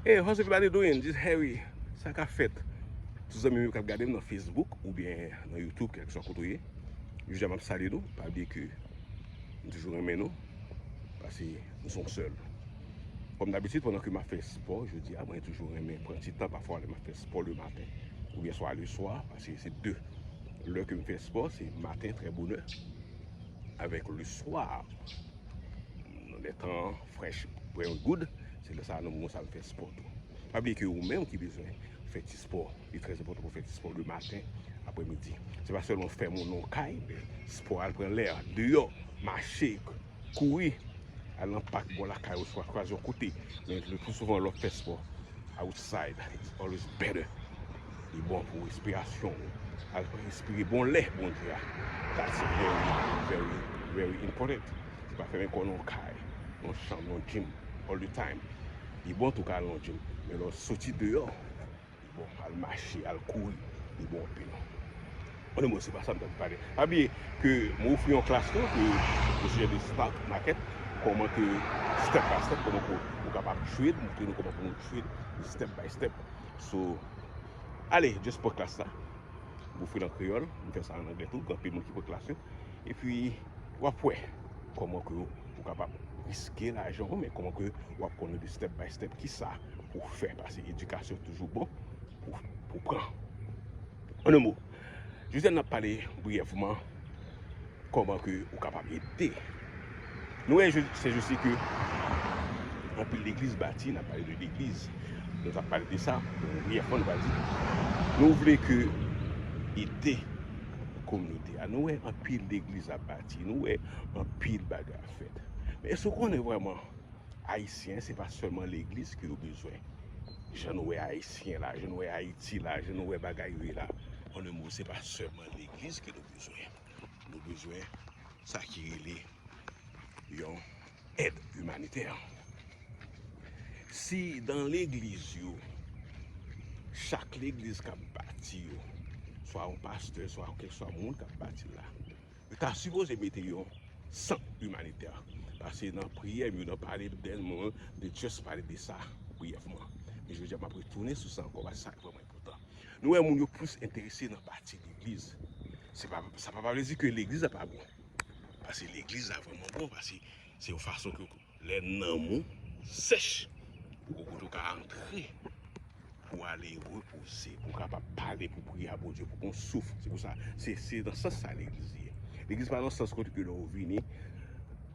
Hey how's everybody doing this Harry sa kap fèt tout zanmim yo kap gadem nan Facebook ou byen nan YouTube kèlkeswa kote ou ye jou a map salye nou pa bliye ke m toujou renmen nou pase nou son sèl kòm dabitid pandan ke map fè spò jodi a mwen toujou renmen pran ti tan pafwa lè map fè spò le maten ou byen swa le swa pase se 2 lè ke m fè spò se maten trè bonè avèk le swa nan lè tan an Fresh Brain Good, se lè sa a nou moun sa fè spò tou. Pa bliye ke ou menm ki bezwen fè ti spò, li trè enpòtan pou fè ti spò le maten, aprè midi. Se pa sèlman fè moun nan kay, men spò al pran lè, deyò, mache, kouri, al nan pak bò lakay ou swa kwaze yon kote. Men le pli souvan lè w fè spò outside, it's always better. Li bon pou respirasyon ou. Al respire bon lè Bondye a. That's very, very, very important. Se pa fèmen kò nan kay, nan chanm, nan gym all the time. Li bon tou ka al nan gym, men lè w soti deyò, li bon al mache, al kouri, li bon anpil. Bon anmwey se pa sa m ta vin pale. Pa bliye ke m ofri yon klas tou ke o sijè de stock market, kòman ke step by step kòman ke ou kapab trade, m montre nou kòman pou nou trade step by step. So, ale just pran klas la. M ofri l an kreyòl, m fè sa an anglè tou, gen anpil moun ki pran klas yo. Epi w ap wè kòman ke ou kapab riske lajan w men kòman ke w ap konnen de step by step ki sa pou w fè paske edikasyon toujou bon pou w pran. An de mo, jodi a n ap pale briyèvman kòman ke ou kapab ede. Nou wè je se je se ke anpil legliz bati nan pale de legliz. Nou ta pale de sa, nou vye fon va di. Nou vle ke ete kominote a. Nou wè anpil legliz ap bati. Nou wè anpil baga ap fèt. Men sou konen vwèman ayisyen se pa sèlman legliz ki yo bezwen. Je nou wè ayisyen la, je nou wè ayiti la, je nou wè bagay yo la. An nou mou se pa sèlman legliz ki yo bezwen. Nou bezwen. Sa ki rele yon èd imanitè. Si dan legliz yo, chak legliz k ap bati yo, swa yon pastè, swa yon kèlkeswa moun k ap bati la, yo ta sipoze mete yon sant imanitè. Pase nan priyè m yo, nan pale m dèlman, m te just pale de sa briyèfman. Men jodi a m ap retounen sou sa ankò, paske sa vreman. Poutan, nou wè moun yo plis enterese nan bati legliz. Sa pa pa vle di ke legliz la pa bon. Pase legliz la vreman bon, pase se yon fason ke lè nanm ou sèch, ou gen yon kote ou ka antre pou ale repoze, pou ka pa pale, pou priye a Bondye, pou kon souf. Se pou sa, se nan sans sa legliz ye. Legliz pa nan sans kote ke lè ou vini,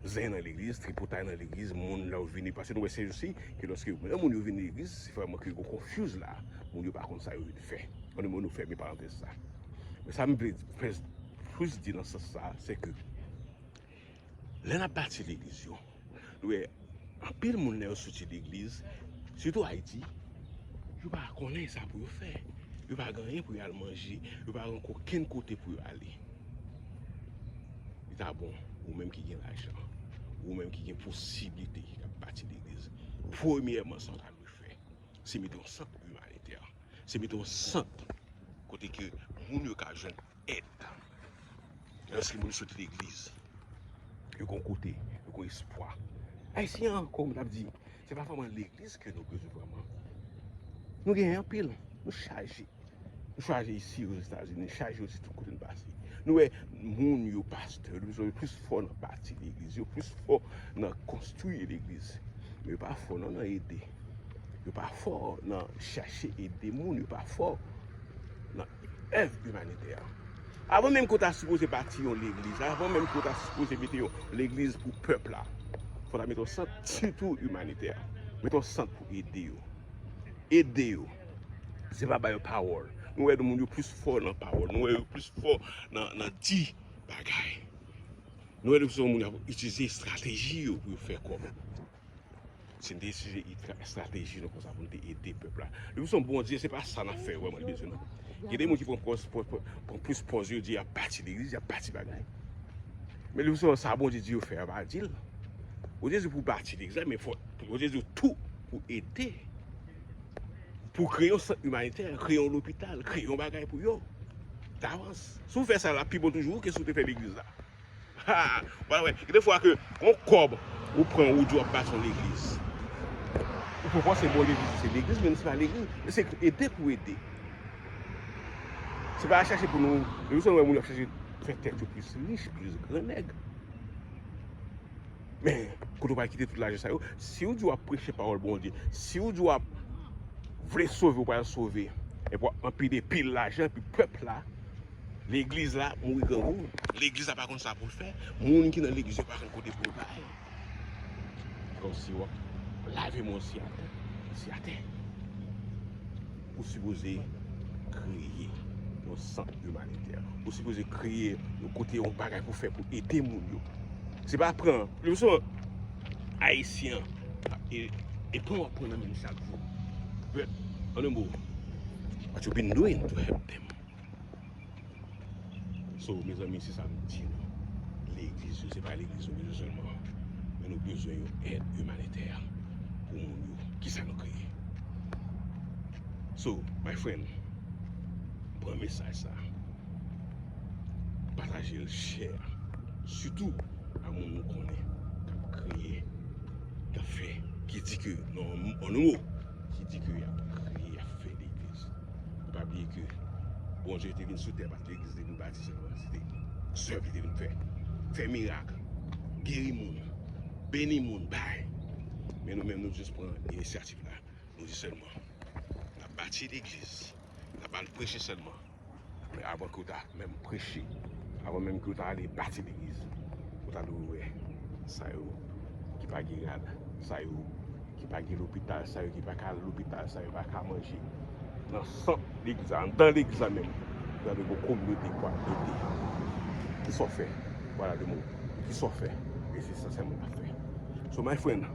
Zen nan legliz, tripotay nan legliz, moun la ou vini, pase nou wè se jousi, ke lòske moun yo vini nan legliz, se fwa manke yon konfuz la, moun yo pa konn sa yo vini fè. Moun yo moun yo fè mi parantez sa. Men sa m vle plus di nan sans sa, se ke, lè nan pati legliz yo, nou wè, anpil moun lè yo soti legliz, sitou Ayiti, yo pa konnen sa pou yo fè. Yo pa gen anyen pou yo al manje, yo pa gen anko ken kote pou yo ale. Li ta bon, ou menm ki gen lajan, ou menm ki gen posibilite ki kap bati legliz, premyèman sa w ta dwe fè, se mete yon sant imanitè, se mete yon sant kote ke moun yo ka jwenn èd. Lèske moun sot legliz, yo gen yon kote, yo gen yon espwa. Ayisyen an, kòm m tap di. Se pa vreman legliz ke nou bezwen vreman. Nou gen anpil, nou chaje. Nou chaje isi yo Etazini, nou chaje yo sitou kote nou pase. Nou wè moun yo pastè, nou bezwen yo plis fò nan bati legliz, yo plis fò nan konstwi legliz. Men yo pa fò nan nan ede. Yo pa fò nan chache ede moun, yo pa fò. Èv imanitè a. Avan menm ke w ta sipoze bati yon legliz, avan menm ke w ta sipoze mete yon legliz pou pèp la, fò w ta mete yon sant sitou imanitè. Mete yon sant pou ede yo. Ede yo. Se pa ba yo pawòl. Nou wè moun yo plis fò nan pawòl. Nou wè yo plis fò nan di bagay. Nou wè yo se yon moun ki itilize estrateji yo pou yo fè kòb. Se n te itilize estrateji nou konsa pou n te ede pèp la. Depi se yon bon Dye, se pa sa n ap fè vreman li bezwen non. Gen de moun ki pran pòz, pran plis pòz yo di y ap pati legliz, y ap pati bagay. Men depi se yon sa bon Dye di yo fè, yo pa di l. Bon Dye di w pou w pati legliz la, men fò, bon Dye di w tou pou w ede. Pou w kreye yon sant imanitè, kreye yon lopital, kreye yon bagay pou yo. Davans. Si w fè sa l ap pi bon toujou ke si w te fè legliz la. Haa wal wè gen defwa ke yon kòb ou pran ou di wap bati yon legliz ou pa panse bon legliz ou se legliz menm se pa legliz men se pou ede pou ede se pa chache pou nou depi lè nou wè moun ap chache fè tèt yo plis rich plis gran nèg men kote ou pral kite tout lajan sa yo si ou di wap preche pawòl Bondye si ou di wap vle sove ou pral sove epi wap anpile pil lajan epi pèp la Legliz la mouri grangou. Legliz la pa konn sa poul fè. Moun ki nan legliz yo pa konn kote pou yo bay. Kon si wap lave moun si atè. Si atè. Ou sipoze kreye yon sant imanitè. Ou sipoze kreye yon kote yon bagay pou fè pou ede moun yo. Se pa pran. Lou son. Ayisyen. E. E pran wap pran nan men chak jou. But. An nou mou. What you been doing to help them. So mezanmi se sa m di nou, legliz yo se pa legliz nou bezwen sèlman, men nou bezwen yon èd imanitè pou moun yo, ki sa nou kreye. So my friend, pran mesaj sa, pataje l, share l, sitou a moun nou konnen k ap kreye, k ap fè, ki di ke an nou mo. ki di ke yap priye, yap fè legliz. Nou pa bliye ke Bondye te vin sou tè pa t legliz li te vin bati sèlman. Se te zèv li te vin fè. Fè mirak, geri moun, beni moun, bay. Men nou menm nou jis pran inisyativ la. Nou di sèlman, nap bati legliz, nap al preche sèlman. Men avan ke w ta menm preche, avan menm ke w ta ale bati legliz, ou ta dwe wè sa yo ki pa gen rad, sa yo ki pa gen lopital, sa yo ki pa ka al lopital, sa yo pa ka manje. Nan sant legliz la, anndan legliz la menm, ou ta dwe gen yon kominote pou ap ede. Kisa w fè pou al ale moun? Kisa w fè? E se sa Simon ap fè. So my friend.